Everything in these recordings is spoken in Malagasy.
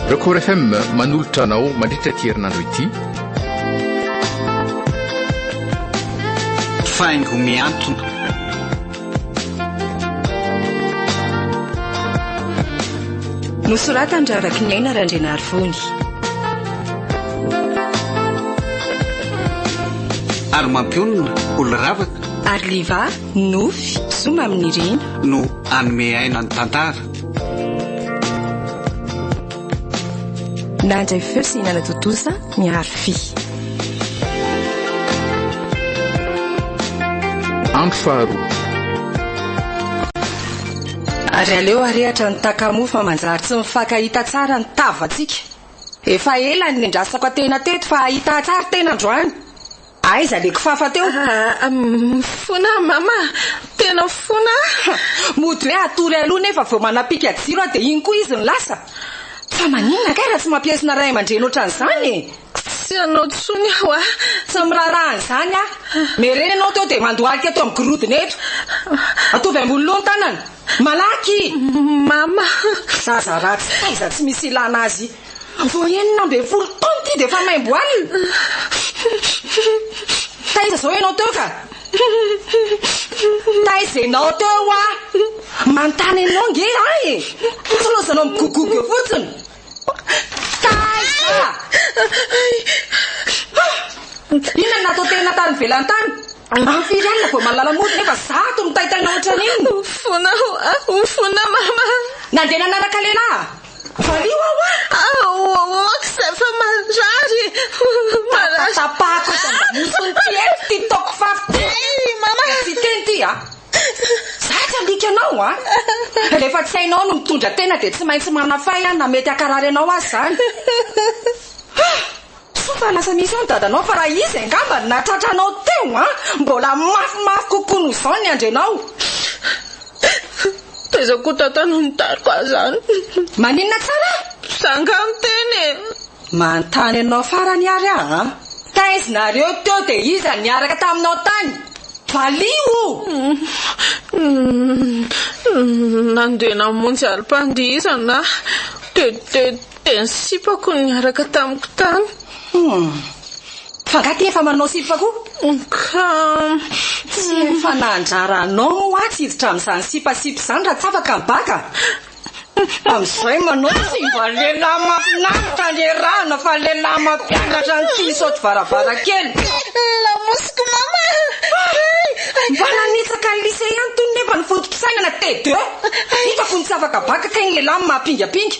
Record FM manolotra anao mandritra ity herinandro ity. Faingo miantona. Nosoratan-dRavakiniaina Randrianarivony. Ary mampionona olo-ravaka. Ary liva, nofy, zoma amin'ny rina. No hanome aina ny tantara. Nandray feo sy nanatontosa. Miharo vy. Andro faharoa. Ary aleo arehatra ny takamoa fa manjary tsy mifankahita tsara ny tavantsika. Efa ela no niandrasako atena teto fa hahita tsara tena androany. Aiza le kifafa teo? Ah, mifona ah, mama, tena mifona ah. Mody hoe atory aloha nefa vao manapika jiro aho dia iny koa izy no lasa. Fa maninona kay raha tsy mampiesona ray aman-dreny ohatran'izany e? Tsy anao tsony aho ah. Tsy miraharaha an'izany ah. Mere ianao teo dia mandohalika eto amin'ny gorodona eto. Atovy ambony loha ny tanana. Malaky! Mama! Zaza ratsy taiza tsy misy ilana azy. Vao enina ambin'ny folo taona ity dia efa maimbo alina. Taiza izao ianao teo ka? Taiza ianao teo wa? Manontany anao nge aho e. Tsy lozanao migogogo eo fotsiny. Taiza? Inona no natao tena tany ivelany tany? Amin'ny firy alina vao mahalala mody nefa zato mitaitaina ohatran'inona? Ufona, ufona mama. Nandeha nanaraka lehilahy? Valio aho a! Aoka izay fa marary e! Marary! Tapatapahako eto an-damosiny ity eto ity taoko fafy ity! Mama! Tsy hiteny ity a! Izaho tsy handika anao a! Rehefa tsy hainao ny mitondra tena dia tsy maintsy manafay a, na mety hankarary anao aza izany! Soa fa lasa misy eo ny dadanao fa raha izy angamba no nahatratra anao teo an! Mbola mafimafy kokoa noho izao ny andrenao. Taiza koa Tata no nitariko ahy izany? Maninona tsara? Za angaha niteny e! Manontany anao farany ary aho an! Taiz nareo teo dia iza niaraka taminao tany? Valio o! Nandeha namonjy alim-pandihizana aho. Dia ny sipako no niaraka tamiko tany. Humm. Fa angaha ty efa manao sipa koa? Ka. Tsy efa nandraranao moa atsy hiditra amin'izany sipasipa izany raha tsy afaka ny baka? Amin'izay manao tsy mba lehilahy mahafinaritra niarahana fa lehilahy mampianatra ny tsy misaoty varavarankely. Lamosiko mama a! Mba nanitsaka ny lycée ihany tony nefa ny foto-pisainana T2. Hitako ny tsy afaka baka kay ny lehilahy maha pingapinga.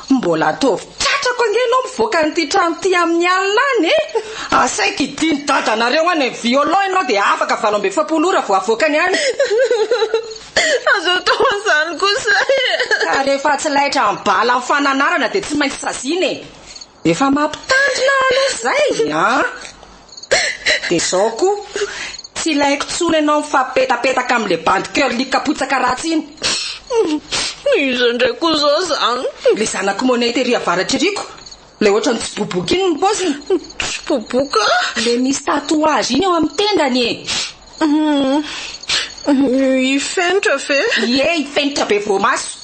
Mbola ataovy tratrako ange ianao mivoaka an'ity trano ity amin'ny alina any e! Asaiko hidian'i dadanareo any amin'ny violon ianao dia afaka valo amby efapolo ora vao avoakany any. Aza atao an'izany kosa e! Ka rehefa tsy laitra amin'ny bala amin'ny fananarana dia tsy maintsy saziana e! Efa mampitandrina aloha izay an! Dia izao koa, tsy ilaiko intsony ianao mifampipetapetaka amin'ilay bandy curly kapotsaka ratsy iny. Iza indray koa izao izany? Ilay zanak'i Money tery avaratra iriko, ilay ohatran'ny tsiboboka iny ny paoziny. Tsiboboka? Ilay misy tatouage iny eo amin'ny tendany e! Hifenitra ve? Ie, hifenitra be voamaso.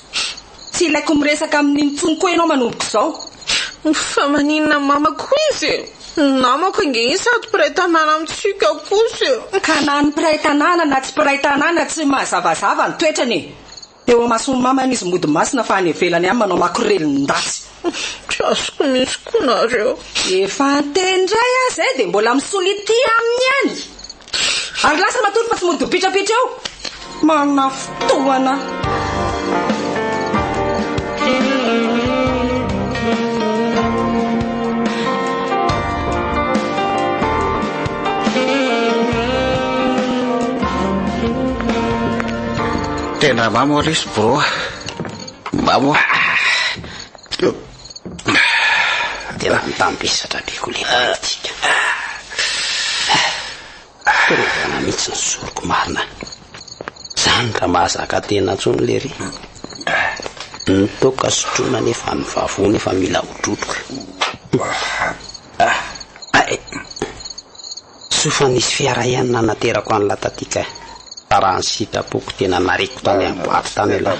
Tsy ilaiko miresaka aminy intsony koa ianao manomboka izao. Fa maninona mamako izy e? Namako ange izy sady mpiray tanàna amintsika kosa e! Ka na ny mpiray tanàna na tsy mpiray tanàna tsy mazavazava ny toetrany e! Teo amason'i Maman izy mody masina fa any ivelany ihany manao makorelin-datsy. Tsy azoko mihitsy koa nareo. Efa niteny indray aho izay dia mbola misolitia aminy ihany. Ary lasa matory fa tsy mody mipitrapitra eo. Manana fotoana. Tena mamo lesy bro a! Mamo a! Tena mitambesatra be ko le politika a! Fiarovana mihitsy ny zoriko marina! Zany ka mahazaka tena tsony lery! Ny toaka sotroina nefa ny vavony efa mila hodrotroka! Soa fa nisy fiara ihany nanaterako an'la taty kay. Fa raha ny sitrapoko tena nariako tany amin'ny boite tany aloha.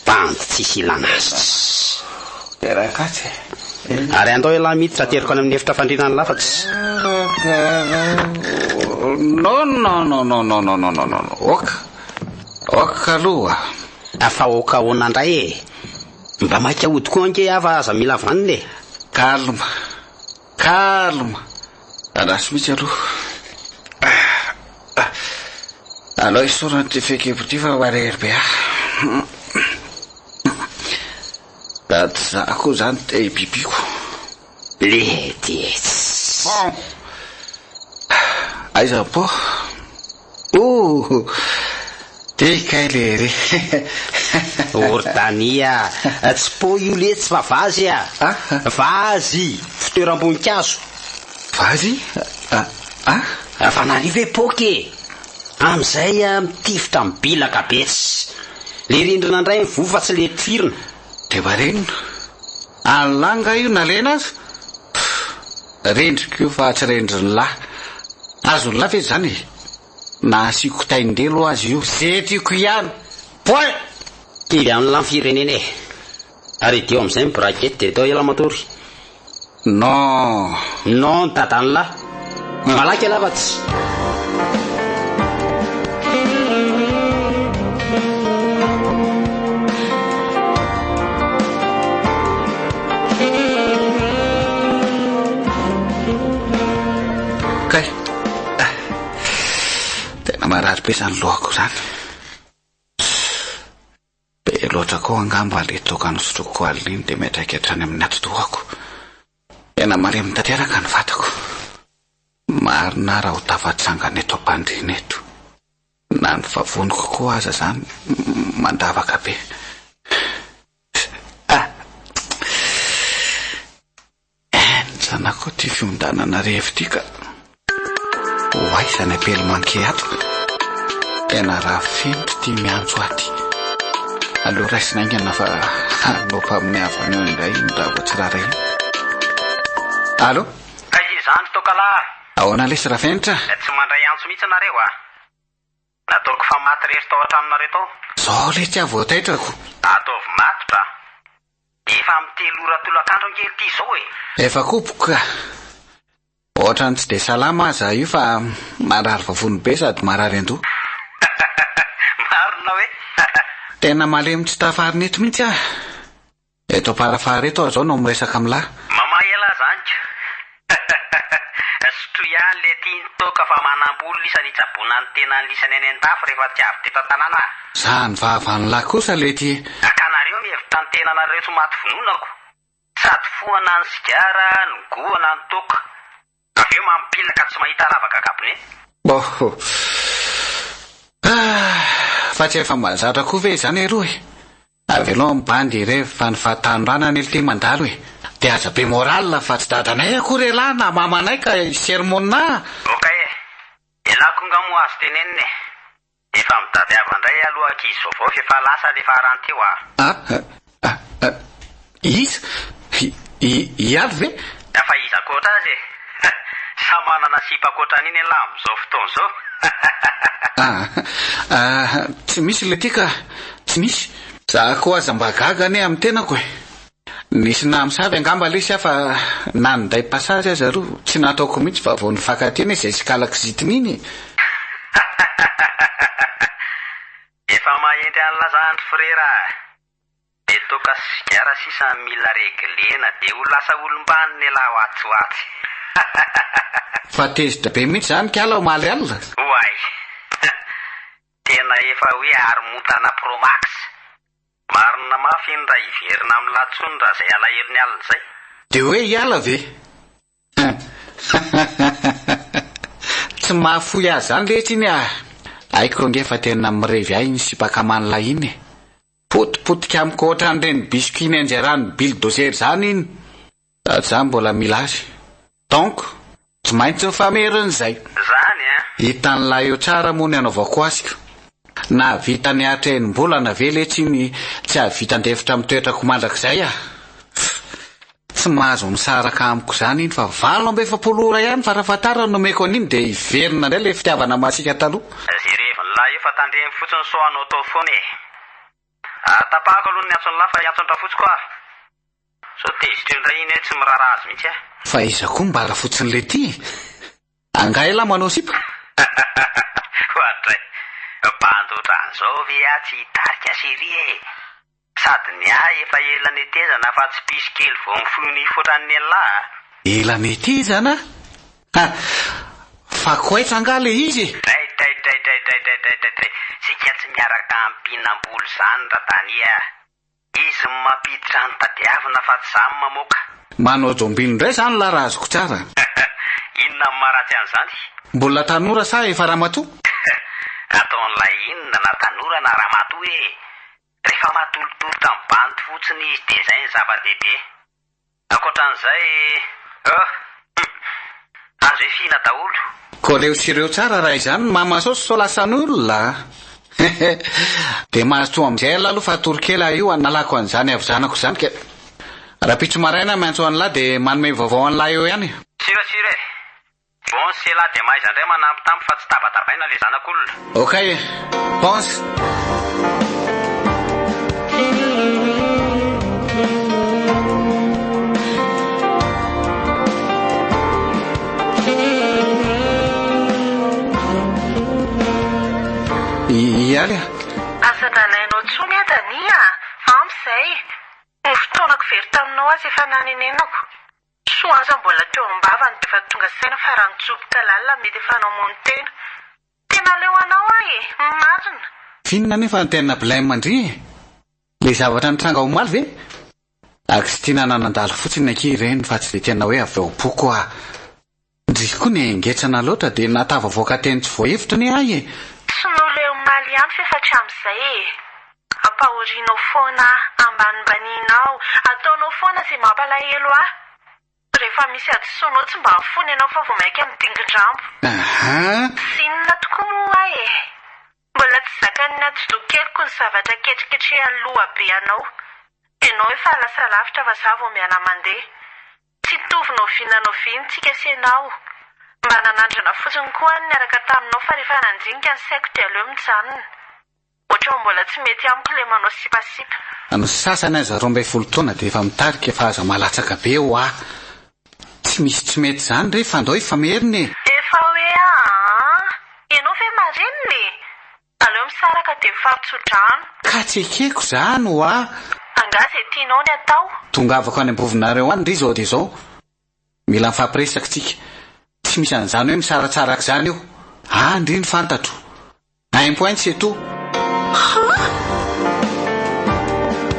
Bandy tsisy ilana azy. Ary andao ialahy mity fa ateriko any amin'ny efitra fandriana ny lafatsy. Fa aoka ahoana indray e! Mba maika hody koa ange aho fa aza mila vanona e! Calme! Andraso mihitsy aloha. Ah! Aleo esorina ity fehikibo ity fa marery be aho. Raha tsy za koa izany dia i Bibico. Lehitsy! Bon! Aiza Bo? Ooh! Dia kay lery e! Ordania, Tsy pot io letsy fa vazy a! Vazy! Fitoeram-boninkazo! Vazy? Ah? Fa nani ve pot e! Amin'izay mitifitra amin'ny bilaka betsy. Ilay rindrina indray mivoha fa tsy ilay tifirina. Dia marenina. Any lahy nga io nalena aza? Pff! Rendriko io fa tsy rendrin'ny lahy. Azon'ny lahy ve izany e? Na asiako tain-delo aza io, ze tiako ihany. Point! Kivy an'la ny firenena e! Ary idio amizay ny braquette de tao elah matory. Non non dadanlah malaky ialahy fa tsy. Kay ah tena marary be zany lohako zany. Be loatra koa angamba ilay toaka nosotroiko koa alina iny dia miantraika hatrany amin'ny atidohako. Tena maremony tanteraka ny vatako. Marina aho raha ho tafatsangana eto am-pandriana eto. Na ny vavoniko koa aza izany mandavaka be. Ah! Enjana koa ity fiondanana revy ity ka! Ho aiza ny apely manqué ato? Tena rafento ity miantso aty. Aleo raisina aingana fa hanao mpaminiavana eo indray iny raha vao tsy rariny. Allo? Kay izany toaka lahy! Ahoana lesy Rafenitra? Tsy mandray antso mihitsy nareo a! Nataoko fa maty rery tao an-tranonareo tao. Zao ilay tsy havoataitrako. Ataovy matotra a! Efa amin'ny telo ora tolakandro ange ity izao e! Efa koboko ka! Ohatran'ny tsy dia salama aza io fa marary vavony be sady marary an-doha. Marina hoe? Tena malemy tsy tafarina eto mihitsy aho. Eto Amparafahary eto aho zao no miresaka am lah. Mama elah zany ka! Hahahaha! Sotroy ihany le tiany toaka fa manambola isany hitsaboana ny tenany lisany any an-dafy rehefa tsy avy teto an-tanàna ah! Zany vava any lah kosa le ty eh! Akanareo mihevitra ny tenanareo tsy maty vononako! Sady fohana ny sigara, ny goana, ny toaka. Avy eo mampilina ka tsy mahita ravaka gabone. Ohoh. Ah. Fa tsy efa mahazatra koa ve izany eroa e. Avelao ny bandy hirevy fa ny fahatanorana anie litia mandalo e. Dia aza be morale fa tsy dadanay akory elah na mamanay ka hi sermon-na a. Ok e. Elah koa nga moa azo tenenina e. Efa mitadiava ndray aloha ankizy vaovao f'efa lasa le farany teo ah. Ah ah iza? I Alo ve? Fa iza akoatra azy e? Samy manana sipa akoatra an'iny elah amin'izao fotoana izao. Ah ah tsy misy le ty ka, tsy misy. Za koa aza mba gaga anie amin'ny tenako e. Nisy namosavy angamba lesy aho fa na ny day passage aza aloha tsy nataoko mihitsy fa vao nifankatia anie izay sikala kizitina iny e! Hahahahaha! Efa mahenty any lazandry frera ah! Dia toaka sy sigara sisa no mila reglena dia ho lasa olom-banona ialahy ho atsy ho atsy! Hahahahaha! Fa tezitra be mihitsy izany kala omaly alina! Oay! Hum! Tena efa hoe haromontana pro max! Marina mafy iny raha hiverina amin'ny latsony raha izay alahelo ny alina izay. Dia hoe hiala ve? Tsy mahafoy azy izany rehetra iny ah! Haiko ange fa tena mirevy ahy iny sipakaman'ilay iny e! Potipotika amiko ohatran'ireny biscuits Ninja-ran'ny bildozer izany iny! Za mbola mila azy. Donc tsy maintsy mifamerina zay. Zany an! Hitan'i Laio tsara moa ny anaovako azy ka. Nahavita nihatra enim-bolana ve letsy iny tsy hahavita handefitra amin'ny toetrako mandrakizay ah! Tsy mahazo misaraka amiko zany iny fa valo amby efapolo ora ihany farafahatarany no omeko an'iny dia hiverina indray ilay fitiavana masiaka taloha. Jerevin'i Laio fa tandremo fotsiny sao anao tao foana e! Ary tapahako aloha ny antson'la fa hiantson-drafotsiko aho. Sao tezitra eo indray iny hoe tsy miraharaha azy mihitsy ah. Fa iza koa mbara fotsiny ilay tia e? Angaha elah manao sipa? Ohatray! Bandy otran'izao ve ah tsy hitarika série e! Sady ny ahy efa ela netezana fa tsy piso kely vao mifoy nify otran'ny elah a! Ela netezana a! Fa koaitsa angaha ilay izy e! Draidraidraidraidraidraidraidraidray! Tsika tsy miaraka ampihinam-bola izany ra-Danie a! Izy no mampiditra ny tadiavina fa tsy za no mamoaka. Manao jombino indray zany lah raha azoko tsara. Inona no maharatsy an'izany? Mbola tanora sa efa ramatoa? Ataon'ilay inona na tanora na ramatoa ee! Rehefa matolotolotra ny bandy fotsiny izy dia izay no zava-dehibe. Ankoatran'izay oh! Hum! Azo efihina daholo. Koa leo sy reo tsara raha izany ny mama saosy sao lasan'olona a! Hehe! Dia mazotoa amin'izay ialahy aloha fa hatory kely aho io hanalako an'izany havizanako izany ka rahampitso maraina miantso an'lah dia manome vaovao an'lah eo ihany. Sira sira e! Bon sy elah dia mahaiza indray manampy tampy fa tsy tabatabaina le zanak'olona. Ok Bon. Ialy a. Aza nalainao tsony ah Dania ah, ampy zay, ny fotoanako very taminao aza efa nanenenako. Soa aza mbola teo ambavany defa tonga saina fa raha nitsoboka lalina mety efa namono tena. Tena leo anao ahy e! Marina. Finina nefa ny tena blem ndry e! Le zavatra nitranga omaly ve? Aksy ty nananandalo fotsiny akia ireny fa tsy de tena hoe avy ao am-poko ah! Ndrii koa nengetrana loatra dia nahatavavoaka teny tsy voahevitra anie ahy e! Tsy nole omaly ihany ve fa hatramin'izay e! Ampahorianao foana aho, ambanimbaninao, ataonao foana izay mampalahelo ahy. Rehefa misy hadisoanao tsy mba mifono ianao fa vao mainka midingin-drambo. Ahaa. Tsy inona tokoa moa ho ahy e! Mbola tsy zakan'ny atidoha keliko ny zavatra ketriketrehan'ny lohabe anao. Ianao efa lasa lavitra fa izaho vao miara-mandeha. Tsy nitovy noviana noviany tsika sy enao. Mba nanandrana fotsiny koa aho niaraka taminao fa rehefa nandinika ny saiko dia aleo mijanona. Ohatran'ny mbola tsy mety amiko ilay manao sipasipa. Ny sasany aza roa ambin'ny folo taona dia efa mitarika fa aza malatsaka be ho'a. Tsy misy tsy mety izany re, fandao efa merina e! Efa hoe aah! Ianao ve marenina e! Aleo misaraka dia mifaro tso-drano. Ka tsy ekeko zany hoa. Angaha izay tianao ny atao? Tongavako any am-bovonareo any ndry izao dia izao. Mila mifampiresaka tsika. Tsy misy an'izany hoe misaratsara aok'izany io. Any ndry ny fantatro. Un point c'est tout. Ha!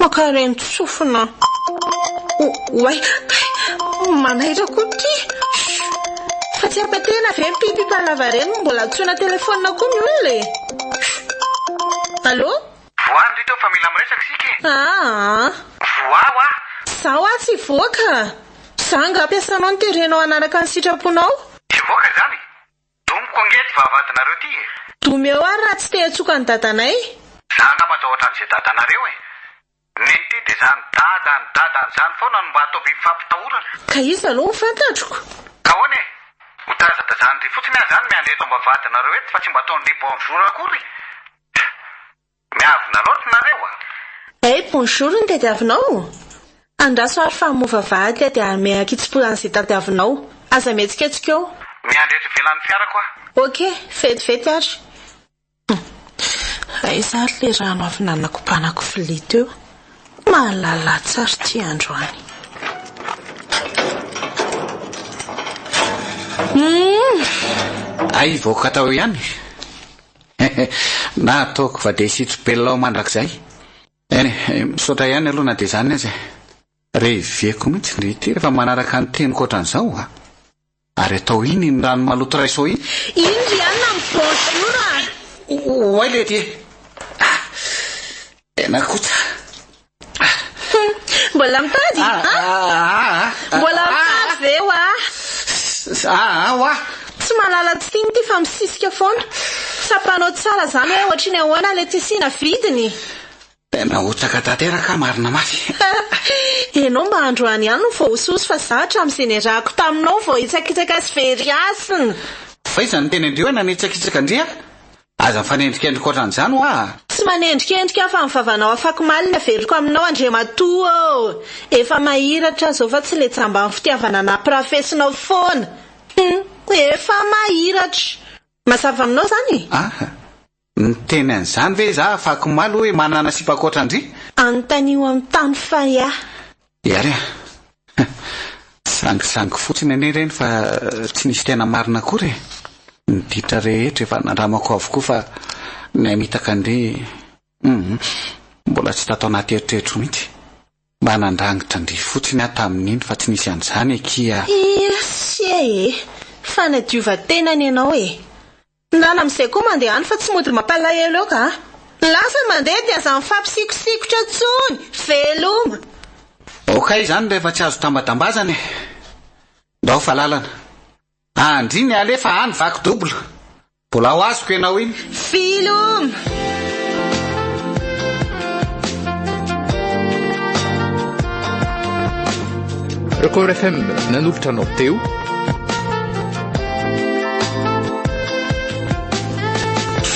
Mpankarento sofina o oay kay manaitra koa ty shh fa tsy haka tena ve ny pipipa lava reny mbola antsoina telephone koa ny olona e shh allo. Voa ry reto fa mila miresaka isika e. Aa. Voa hoa. Za hoa tsy hivoaka. Za angaha mpiasanao no terenao hanaraka ny sitraponao? Tsy hivoaka izany? Domiko ange ty vavahadinareo ty e! Domeo ary raha tsy te hatsoka an'i dadanay. Za angamba atao otran'izay dadanareo e! Neny ty de zany dada any dada any zany foana no mba atao biby fampitahorana. Ka iza aloha no fantatroko? Ka ahoana e! Ho tazatazan'ndry fotsiny aho zany miandry eto am-bavahadinareo eto fa tsy mba ataon'ndry bonjour akory! Pff! Miavona loatra nareo a! Hey bonjour ny tadiavinao Andraso ary fa mova vady dia hanome hakitsipoy an'izay tadiavinao Aza mihetsiketsika eo. Miandry eto ivelan'ny fiarako aho. Ok, vetivety ary. Humm. Aiza ary le rano avy nanakobanako vilia teo? Malalasy ary ty androany. Humm. Hay hivoaka tao ihany. Na ataoko fa dia hisitro belona aho mandrakizay eh! Misaotra ihany aloha na dia izany aza eh! Reveko mihitsy ndry ity rehefa manaraka ny teniko ohatran'izao a! Ary atao inn iny rano maloto raiso iny? Inn ry anna amin'ny bonjour a! Oay lety eh! Ah! Tena koa tsara ah. Mbola mitady ah, ah, ah, ah. Mbola mitady ve wa ah, ah, wa Tsy malala tsy tiany ity fa misisika foana Tsapanao tsara zany hoe ohatriny ahoana le tissu na vidiny Tena hotsaka tanteraka marina mafy Enao mba androany ihany no vao hososo fa za hatramin'izay niarahako taminao vao hitsakitsaka sy very hasina Fa iza no tena indreo nanitsakitsaka an-dry ah? Aza mifanendrikendrika ohatran'izany ho'a! Tsy manendrikendrika aho fa ny vavanao afako maliny aveloko aminao Andriamatoa ô! Efa mahiratra aho zao fa tsy le jamban'ny fitiavana nampirafesinao foana! Hum! Efa mahiratra! Mazava aminao zany e? Aha! Niteny an'izany ve izaho afako omaly hoe manana sipa ankoatran'dry? Anontanio amin'ny tany fay ahy. Iary a! Sangisangy fotsiny anie ireny fa tsy nisy tena marina akory e! Ny ditra rehetra efa nandramako avokoa fa ny ahy mitaka andeha hum! Mbola tsy tato anaty eritreritro mihitsy. Mba nandrangitra an-dry fotsiny aho tamin'iny fa tsy nisy an'izany akia! Iesie e! Fanadiovan-tena ny anao e! Na amin'izay koa mandeha any fa tsy mody mampalahelo eo ka. Lasa mandeha dia aza mifampisikosikotra intsony. Veloma. Ok izany rehefa tsy azo tambadambazana e! Ndao fa lalana. Andry ny alefa any vaky double. Mbola ho azoko ianao iny. Veloma. Record FM nanolotra anao teo.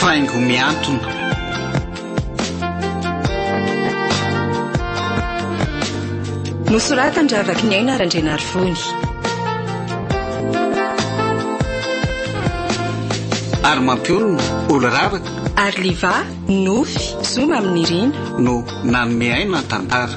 faingo miantona. Nosoratan Ravaky ny aina Randrianarivony. Ary mampiorina olo-ravaka. Ary liva, nofy, zoma amin'ny rina. No nanome aina tantara.